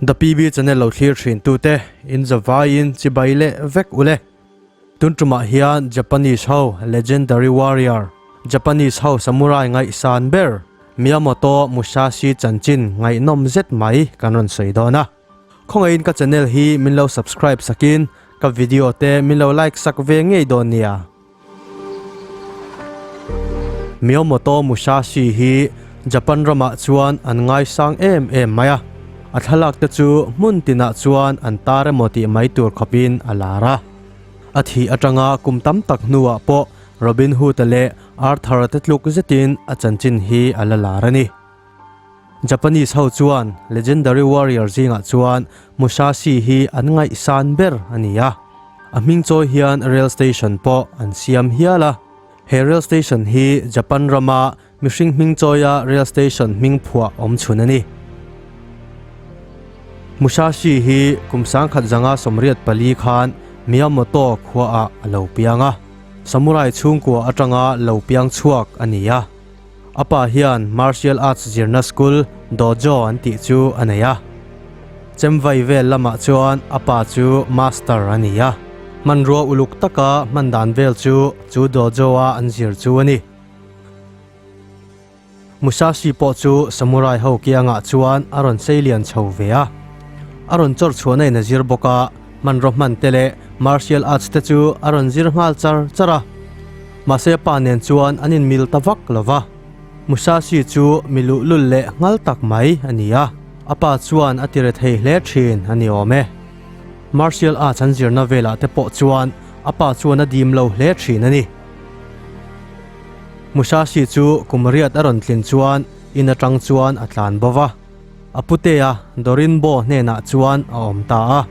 The PB channel lo thlir thin tu te in za vai in chibai leh vek u le. Tun tum ah hian Japanese ho legendary warrior Japanese ho samurai ngaih san ber Miyamoto Musashi chanchin ngaihnawm zet mai kan rawn sawi dawn a. Khawngaihin ka channel hi min lo subscribe sak in ka video te min lo like sak ve ngei dawn nia. Miyamoto Musashi hi Japan ram ah chuan an ngai sang em em mai a, a thlalak te chu hmun tin ah chuan an tar emaw tih mai tur khawp in a lar a. A thih atang a kum tam tak hnu ah pawh Robin Hood leh Arthur te tluk zet in a chanchin hi a la lar a ni. Japanese ho chuan legendary warrior zingah chuan Musashi hi an ngaih san ber a ni a, a hming chawi hian rail station pawh an siam hial a. He rail station hi Japan rama mihring hming chawia rail station hming phuah awm chhun a ni. Musashi hi kum sangkhat zanga sawmriat pali khan Miyamoto khuaah a lo piang a, samurai chhungkua atanga lo piang chhuak a ni a. A pa hian Martial Arts zirna school, Dojo, an tih chu a nei a. Chemvai vel lamah chuan a pa chu Master a ni a. Hmanrua uluk taka hman dan vel chu chu Dojo a an zir chu a ni. Musashi pawh chu Samurai ho kiangah chuan a rawn seilian chho ve a. A rawn chawr chhuahna in a zir bawk a. Hmanraw hman te leh Martial Arts te chu a rawn zir nghal char char a. Mahse pa nen chuan an inmil ta vak lo va. Musashi chu mi luhlul leh nghal tak mai a ni a, a pa chuan a tire thei hle thin a ni awm e. Martial Arts an zirna velah te pawh chuan a pa chuan a dim lo hle thin a ni. Musashi chu kum riat a rawn tlin chuan in atang chuan a tlan bova. A putea Dorinbo hnenah chuan a awm ta a.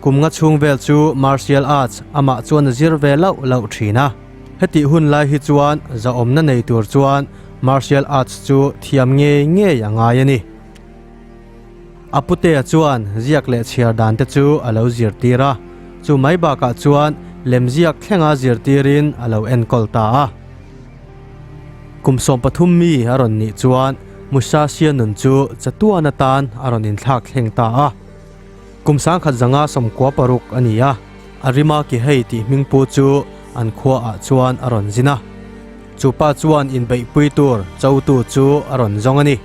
Kumnga chhungvel chu Martial Arts amah chuan a zir ve lauh lauh thin a. Hetih hun lai hi chuan zahawmna nei tur chuan Martial Arts chu thiam ngei ngei a ngai a ni. A putea chuan ziak leh chhiar dan te chu a lo zirtir a, chu mai bakah chuan lemziak thlenga zirtirin a lo enkawl ta a. Kum sawm pathum mi a rawn nih chuan Musasia nun chu chatuan atan a rawn inthlak thleng ta a. Kum sangkhat zanga sawmkua paruk a ni a, a rima Kihei tih hming pu chu an khua ah chuan a rawn zin a. Chu pa chuan inbeihpui tur chotu chu a rawn zawng a ni.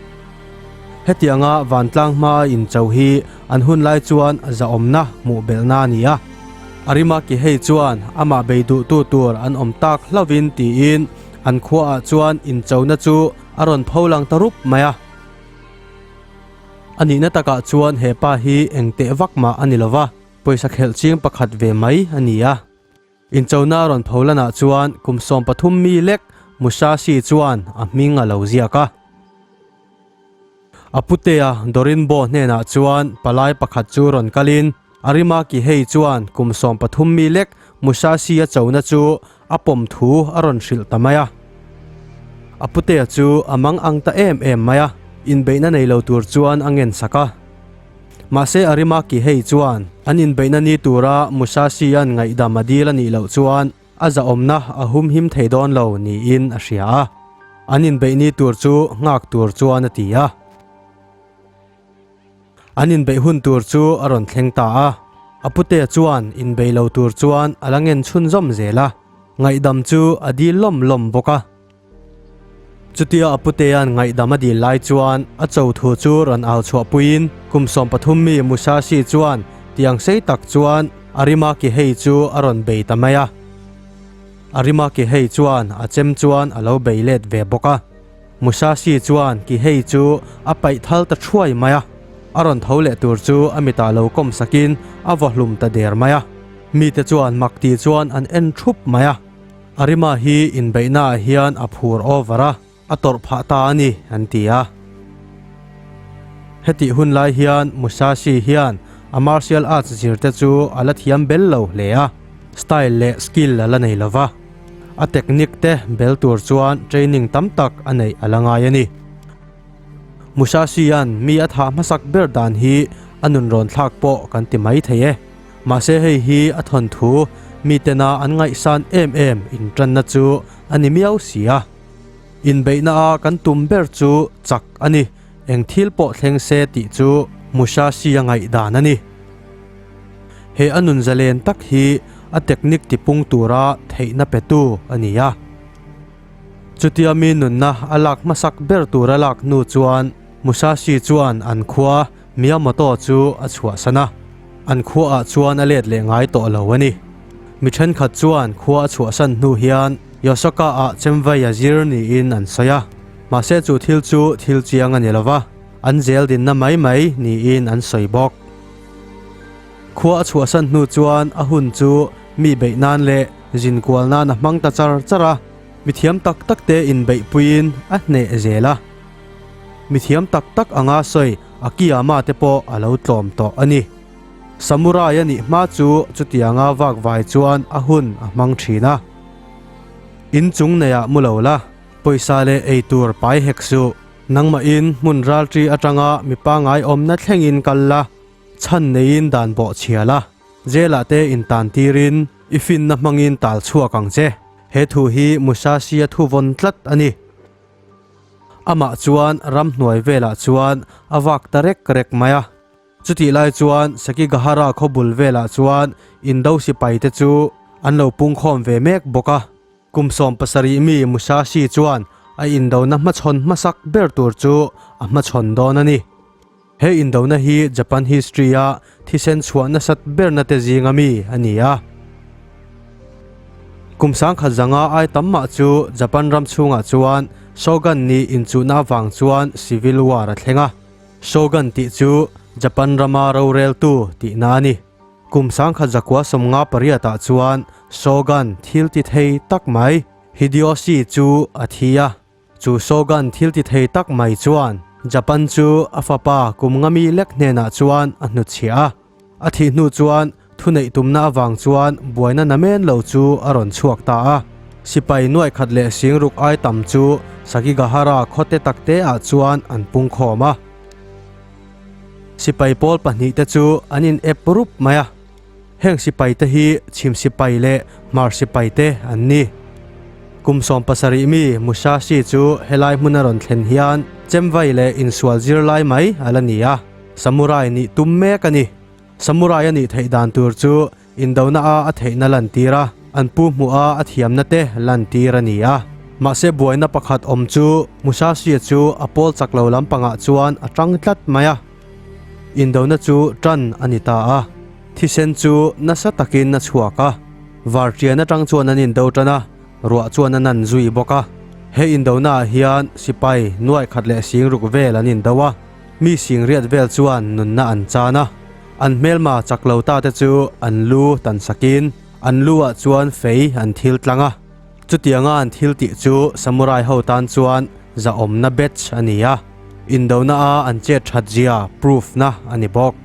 Hetianga vantlang hmaa incho hi an hun lai chuan a zahawmna hmuh belhna a ni a. Arimaki hei chuan amah bei duhtu tur an awm tak hlauhin tiin an khua ah chuan inchona chu a rawn pho lang ta rup mai a. A nihna takah chuan he pa hi engteh vak mah a ni lova pawisa khelh ching pakhat ve mai a ni a. Inchona rawn pho lanah chuan kum sawm pathum mi lek Musashi chuan a hming a lo ziak a. A putea Dorinbo hnenah chuan palai pakhat chu rawn kal in, Arimaki hei chuan kum sawm pathum mi lek Musashi a chona chu a pawm thu a rawn hrilh ta mai a. A putea chu a mang ang ta em em mai a, inbeihna nei lo tur chuan a ngen sak a. Mahse Arimaki hei chuan an inbeihna ni tura Musasian ngaihdam a dil a nih loh chuan a zahawmna a humhim thei dawn lo niin a hria a, an inbeih ni tur chu nghak tur chuan a ti a. An inbeih hun tur chu a rawn thleng ta a, a pute chuan inbeih lo tur chuan a la ngen chhun zawm zel a, ngaihdam chu a dil lawm lawm bawk a. Chutia a putean ngaihdam a dil lai chuan a cho thu chu rawn au chhuah puiin kum sawm pathum mi Musashi chuan tiang sei tak chuan Arimaki hei chu a rawn bei ta mai a. Arimaki hei chuan a chem chuan a lo bei let ve bawk a. Musashi chuan ki hei chu a paih thal ta thuai mai a, a rawn tho leh tur chu a mitah lo kawm sakin a vaw hlum ta der mai a. Mite chuan mak ti chuan an en thup mai a. Arima hi inbeihna ah hian a phur over a, a tawrh phah ta a ni, an ti a. Hetih hun lai hian Musashi hian a martial arts zir te chu a la thiam bel lo hle a, style leh skill a la nei lo va. A technique te bel tur chuan training tam tak a neih a la ngai a ni. Musashi-a'n mi a thah hmasak ber dan hi a nunrawn thlak pawh kan ti mai thei e. Mahse hei hi a thawnthu mi tena an ngaihsan em em inṭanna chu a ni miau si a. Inbeihna a kan tum ber chu chak a ni, eng thil pawh thleng se tih chu Musashi a ngaih dan a ni. He a nun zalen tak hi a technique tipung tura theihna petu a ni a. Chutia mi nunna a lak hmasak ber tura lak hnu chuan Musashi chuan an khua, Mia motor chu a chhuah san a, an khua ah chuan a let leh ngai tawh lo a ni. Mi thenkhat chuan khua a chhuah san hnu hian Yosaka ah chemvei a zir niin an sawi a, mahse chu thil chu thil chiang a ni lo va, an zeldinna mai mai niin an sawi bawk. Khua a chhuah san hnu chuan a hun chu mi beih nan leh zin kual nan a hmang ta char char a, mithiam tak tak te inbeih puiin a hneh zel a. Mithiam tak tak a nga sawi, a kiama te pawh a lo tlawm tawh a ni. Samurai a nih hma chu chutianga vak vai chuan a hun a hmang thin a. In chung nei ah mu lo la, pawisa leh ei tur pai hek suh. Nangmah in hmun ralṭi aṭanga mi pangngai awmna thleng in kal la, chhan nei in dan bawh chhia la, jail ah te in tan tir in i finna hmang in tal chhuak ang che. He thu hi Musashi a thuvawn tlat a ni. Amah chuan ramhnuai velah chuan a vak ta rek rek mai a. Chutih lai chuan Sekigahara khaw bul velah chuan Indo sipai te chu an lo pungkhawm ve mek bawk a. Kum sawm pasarih mi Musashi chuan a indona hmachhawn hmasak ber tur chu a hmachhawn dawn a ni. He indona hi Japan history-a thisen chhuah nasat berna te zinga mi a ni a. Kum sangkhat zanga ai tam mah chu Japan ram chhungah chuan Shogun nih inchuhna avang chuan Civil War a thleng a. Shogun tih chu Japan rama roreltu tihna a ni. Kum sangkhat zakua sawmnga pariatah chuan Shogun thil ti thei tak mai Hideyoshi chu a thi a. Chu Shogun thiltithei tak mai chuan Japan chu a fapa Kumgami lek hnenah chuan a hnutchhiah a. A thih hnu chuan thuneih tumna avang chuan buaina na men lo chu a rawn chhuak ta a. Sipai nuaihkhat leh singruk ai tam chu Sakigahara khawte takte ah chuan an pungkhawm a. Sipai pawl pahnih te chu an inep rup mai a. Heng sipai te hi chhim sipai leh hmar sipai te an ni. Kum sawm pasarih mi Musashi chu helai hmun a rawn thlen hian chemvai leh insual zirlai mai a la ni a, samurai nih tum mek a ni. Samurai a nih theih dan tur chu indona a a theihna lantir a, an pu hmuh a a thiamna te lantir a ni a. Mahse buaina pakhat awm chu Musashi chu a pawl chak lo lampangah chuan a ṭang tlat mai a. Indona chu ṭan a ni ta a, thisen chu nasa takin a chhuak a, var ṭian aṭang chuan an indo ṭan a, ruah chuan a nan zui bawk a. He indona ah hian sipai nuaih khat leh sing ruk vel an indo a, mi sing riat vel chuan nunna an chan a. An hmelma chak lo ta te chu an lu tansakin an lu ah chuan fei an thil tlang a. Chutianga an thil tih chu Samurai ho tan chuan zahawmna batch a ni a, indona a an chet that zia proof na a ni bawk.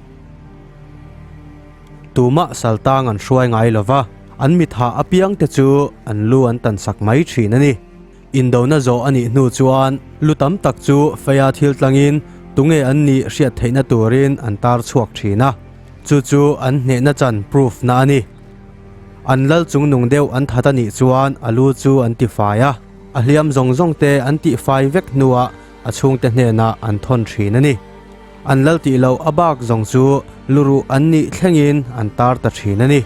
Tumah Saltang an hruai ngai lo va, an mitha apiang te chu an lu an tan sak mai thin a ni. Indona zawh a nih hnu chuan lu tam tak chu Feia thil tlangin tunge an nih hriat theihna turin an tar chhuak thin a, chu chu an hnehna chan proof na a ni. An lal chung nung deuh an that a nih chuan a lu chu an ti fai a, a hliam zawng zawng te an tih fai vek hnuah a chhungte hnenah an thawn thin a ni. An lal tih loh a bak zawng chu lu ruh an nih thlengin an tar ta thin a ni.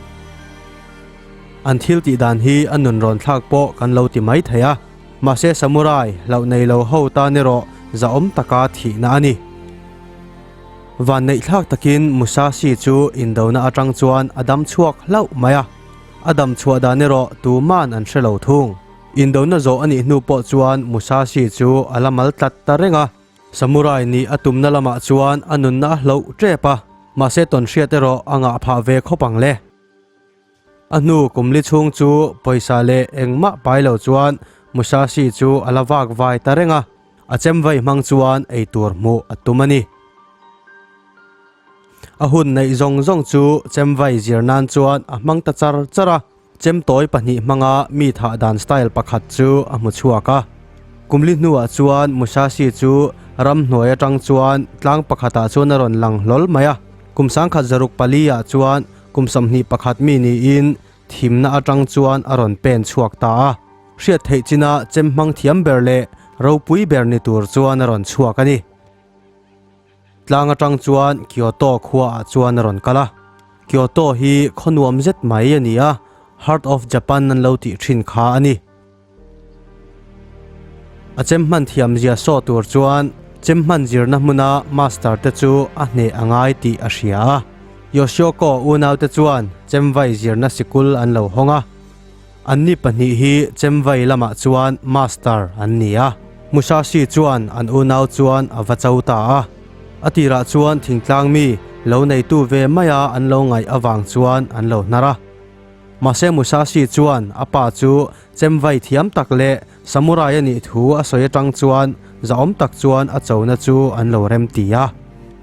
An thil tih dan hi a nun rawn thlak pawh kan lo ti mai thei a, mahse samurai hlauh nei lo ho tan erawh zahawm taka thihna a ni. Vanneihthlak takin Musashi chu indona atang chuan a dam chhuak hlauh mai a, a dam chhuah dan erawh tuman an hre lo thung. Indona zawh a nih hnu pawh chuan Musashi chu a la mal tlat ta reng a, Samurai nih a tumna lamah chuan a nunna a hloh tep a, mahse tawnhriat erawh a ngah phah ve khawp ang le. A hnu Kumli chhung chu pawisa leh eng mah pai lo chuan Musashi chu a la vak vai ta reng a, a chem vai hmang chuan ei tur hmuh a tum a ni. A hun neih zawng zawng chu chem vai zir nan chuan a hmang ta char char a, chem tawi pahnih hmanga mi thah dan style pakhat chu a hmu chhuak a. Kumli hnuah chuan Musashi chu ram hnuai atang chuan tlang pakhatah chuan a rawn lang hlawl mai a, kum sangkhat zaruk pali ah chuan Kum sawmhnih pakhat mi niin thimna atang chuan a rawn pen chhuak ta a. Hriat theih china chemhmang thiam ber leh ropui ber ni tur chuan a rawn chhuak a ni. Tlang atang chuan Kyoto khua ah chuan a rawn kal a. Kyoto hi khaw nuam zet mai a ni a, Heart of Japan an lo tih thin kha a ni. A chem hman thiam zia saw tur chuan chem hman zirna hmuna Master te chu a hneh a ngai tih a hria a. Yoshioka unau te chuan chem vai zirna sikul an lo hawng a. An ni pahnih hi chem vai lamah chuan Master an ni a. Musashi chuan an unau chuan a va cho ta a. A tirah chuan thingtlang mi lo neitu ve maia an lo ngaih avang chuan an lo hnar a. Mahse Musashi chuan a pa chu chemvai thiam tak leh samurai a nih thu a sawi atang chuan zahawm tak chuan a chona chu an lo rem ti a.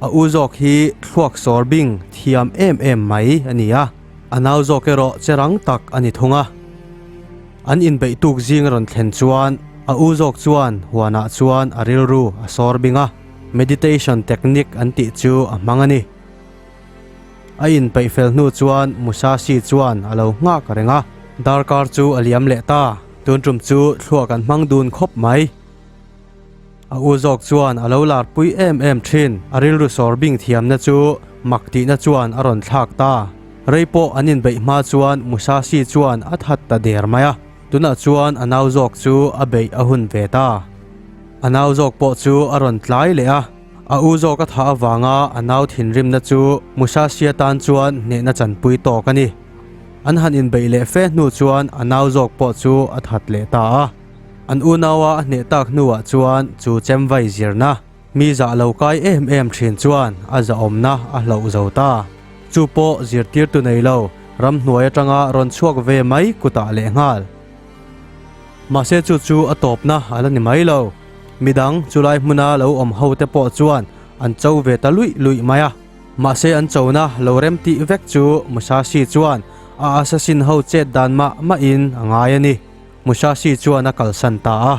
A u zawk hi thluak sawr bing thiam em em mai a ni a, a nau zawk erawh che rang tak a ni thung a. An inbeih tuk zing a rawn thlen chuan a u zawk chuan huanah chuan a rilru a sawr bing a, meditation technique an tih chu a hmang a ni. A inpeih fel hnu chuan Musashi chuan a lo nghak a reng a, darkar chu a liam leh ta, tun tum chu thlua kan hmang dun khawp mai. A u zawk chuan a lo larpui em em thin, a rilru sawr bing thiamna chu mak tihna chuan a rawn thlak ta. Rei pawh an inbeih hma chuan Musashi chuan a that ta der mai a, tunah chuan a nau zawk chu a beih a hun ve ta. A nau zawk pawh chu a rawn tlai leh a. A u zawk a thah avanga a nau thinrimna chu Musasia tan chuan hnehna chanpui tawk a ni. An han inbeih leh fe hnu chuan a nau zawk pawh chu a that leh ta a. An unaua a hneh tak hnuah chuan chu chem vai zirna, mi zah lo kai em em thin chuan a zahawmna a hloh zo ta. Chu pawh zirtirtu nei lo, ramhnuai atanga rawn chhuak ve mai kutah lehnghal. Mahse chu chu a tawpna a la ni mai lo. Midang chu lai hmuna lo awm ho te pawh chuan an cho ve ta luih luih mai a. Mahse an chona lo rem tih vek chu Musashi chuan a assassin ho chet dan mah mah in a ngai a ni. Musashi chuan a kalsan ta a.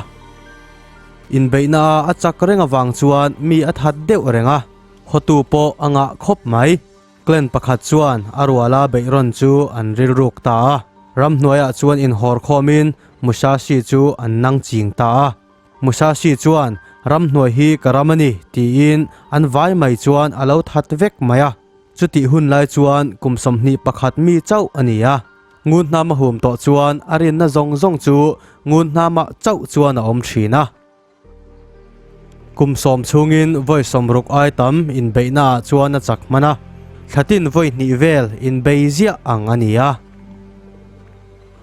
Inbeihna a a chak reng avang chuan mi a that deuh reng a. Khawtu pawh a ngah khawp mai. Clan pakhat chuan a ruala beihrawn chu an rilruk ta a, ramhnuaiah chuan inhawr khawmin Musashi chu an nang ching ta a. Musashi chuan ramhnuai hi ka ram a ni tiin an vai mai chuan a lo that vek mai a, chutih hun lai chuan kum sawmhnih pakhat mi chauh a ni a. Ngun hnam a hum tawh chuan a rinna zawng zawng chu ngun hnamah chauh chuan a awm thin a. Kum sawm chhungin vawi sawm ruk ai tam inbeihna ah chuan a chak hman a, thla tin vawi hnih vel inbei ziah ang a ni a.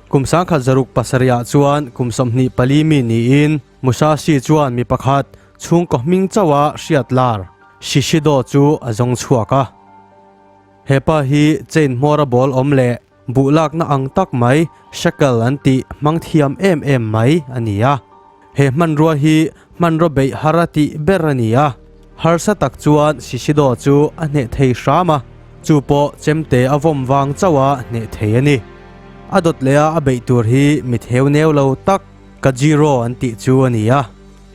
Kum sangkhat zaruk pasarih ah chuan kum sawmhnih pali mi niin Musashi chuan mi pakhat chhungkaw hming chauh a hriatlar Shishido chu a zawng chhuak a. Hepa hi chain hmawra bawlawm leh buhlakna ang tak mai, shekel an tih hmang thiam em em mai a ni a. He hmanrua hi hmanraw beih har a tih ber a ni a, harsa tak chuan Sisidaw chu a hneh thei hram a, chu pawh chemte a vawm vang chauh a hneh thei a ni. A dawt leh a a beih tur hi mi theu neu lo tak Kajiro an tih chu a ni a,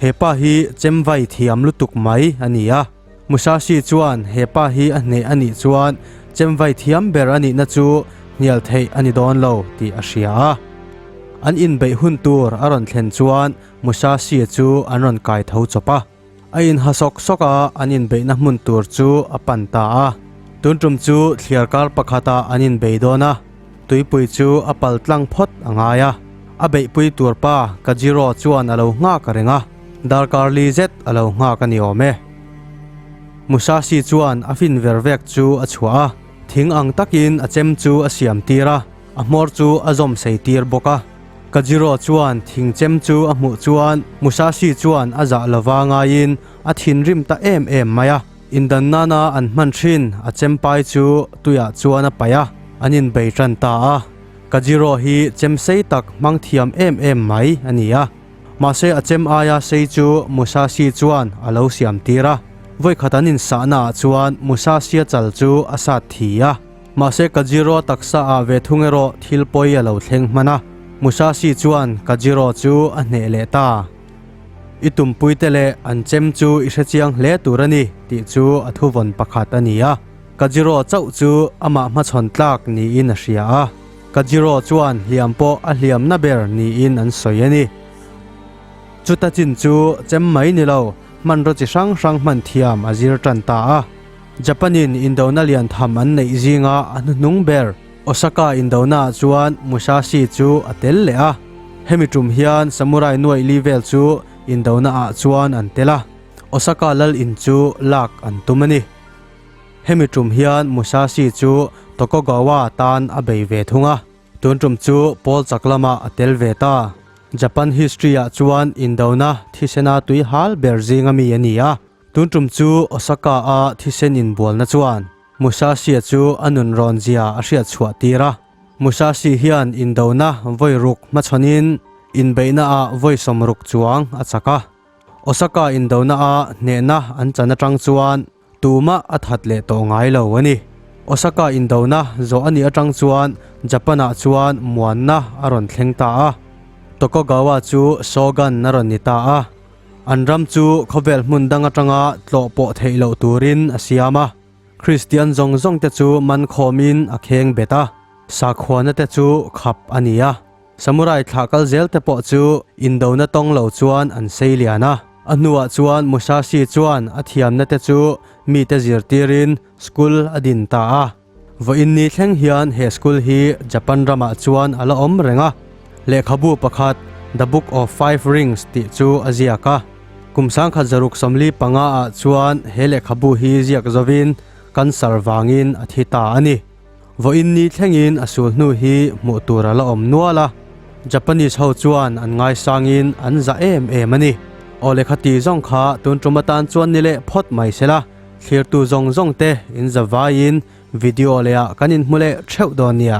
he pa hi chemvai thiam lutuk mai a ni a. Musashi chuan hepa hi a hneh a nih chuan chemvai thiam ber a nihna chu hnial theih a ni dawn lo tih a hria a. An inbeih hun tur a rawn thlen chuan Musashi chu an rawn kai tho chawp a. A inha sawk sawk a an inbeihna hmun tur chu a pan ta a. Tun tum chu thliar kar pakhatah an inbei dawn a. Tuipui chu a pal tlang phawt a ngai a, a beihpui tur pa Kajiro chuan a lo nghak a reng a, darkar li zet a lo nghak a ni awm e. Musashi chuan a fin ver vek chu a chhuah a, thing ang takin a chem chu a siam tir a, a hmawr chu a zawm sei tir bawk a. Kajiro chuan thing chem chu a hmuh chuan Musashi chuan a zah lova ngaiin a thinrim ta em em mai a. Indan nana an hman thin a chempai chu tuiah chuan a paih a, an inbei tan ta a. Ka zero hi chem sei tak hmang thiam em em mai a ni a. Mahse a chem aia sei chu Musashi chuan a lo siam tir a. Vawikhat an insahna ah chuan Musashi a chal chu a sat thi a. Mahse ka zero taksa ah ve thung erawh thil pawi a lo thleng hman a. Musashi chuan ka zero chu a hneh leh ta. I tumpuite leh an chem chu i hrechiang hle tur a ni tih chu a thuvawn pakhat a ni a. Ka zero chauh chu amah hmachhawn tlak niin a hria a, ka zero chuan hliam pawh a hliam na ber niin an sawi a ni. Chuta chin chu chem mai ni lo, hmanraw chi hrang hrang hman thiam a zir tan ta a. Japan-in Indona lian tham an neih zinga a hnuhnung ber. Osaka indonaah chuan Musashi chu a tel leh a, hemi tum hian Samurai nuaih li vel chu indona ah chuan an tel a, Osaka lal in chu lak an tum a ni. Hemi tum hian Musashi chu Tokogawa tan a bei ve thung a, tun tum chu Pawl chak lamah a tel ve ta. Japan history ah chuan indona thisena tui hal ber zing ami a ni a. Tun tum chu Osaka-a thisen inbualna chuan Musashi-a chu a nun rawn zia a hriat chhuah tir a. Musashi hian indona vawi ruk hmachhanin inbeihnaah vawi sawm ruk chuang a chak a. Osaka indona-a hnehna an chan atang chuan tumah a that leh tawh ngai lo a ni. Osaka indona zawh a nih atang chuan Japan-ah chuan muanna a rawn thleng ta a. Tokogawa chu Shogun-a rawn ni ta a. An ram chu khawvel hmun dang atanga tlawh pawh theih loh turin a siam a, Kristian zawng zawng te chu man khawm in a kheng bet a, sakhua na te chu khap a ni a, samurai thlah kal zel te pawh chu indo na tawng lo chuan an sei lian a. A hnuah chuan Musashi chuan a thiam na te chu mite zirtir in school a din ta a. Vawh in ni thleng hian he school hi Japan ramah chuan a la awm reng a. Lehkhabu pakhat The Book of Five Rings tih chu a ziak a. Kum sangkhat zaruk sawmli panga ah chuan he lehkhabu hi ziak zo in kan sar vangin a thi ta a ni. Vawh in ni thleng in a sul hnu hi hmuh tur a la awm nual a. Japanese ho chuan an ngai sang in an zah em em a ni. Aw lehkha ti zawng kha tun ṭum atan chuan ni leh phawt mai se la. Thlirtu zawng zawng te inza vaiin video leh ah kan in hmu leh theuh dawn nia.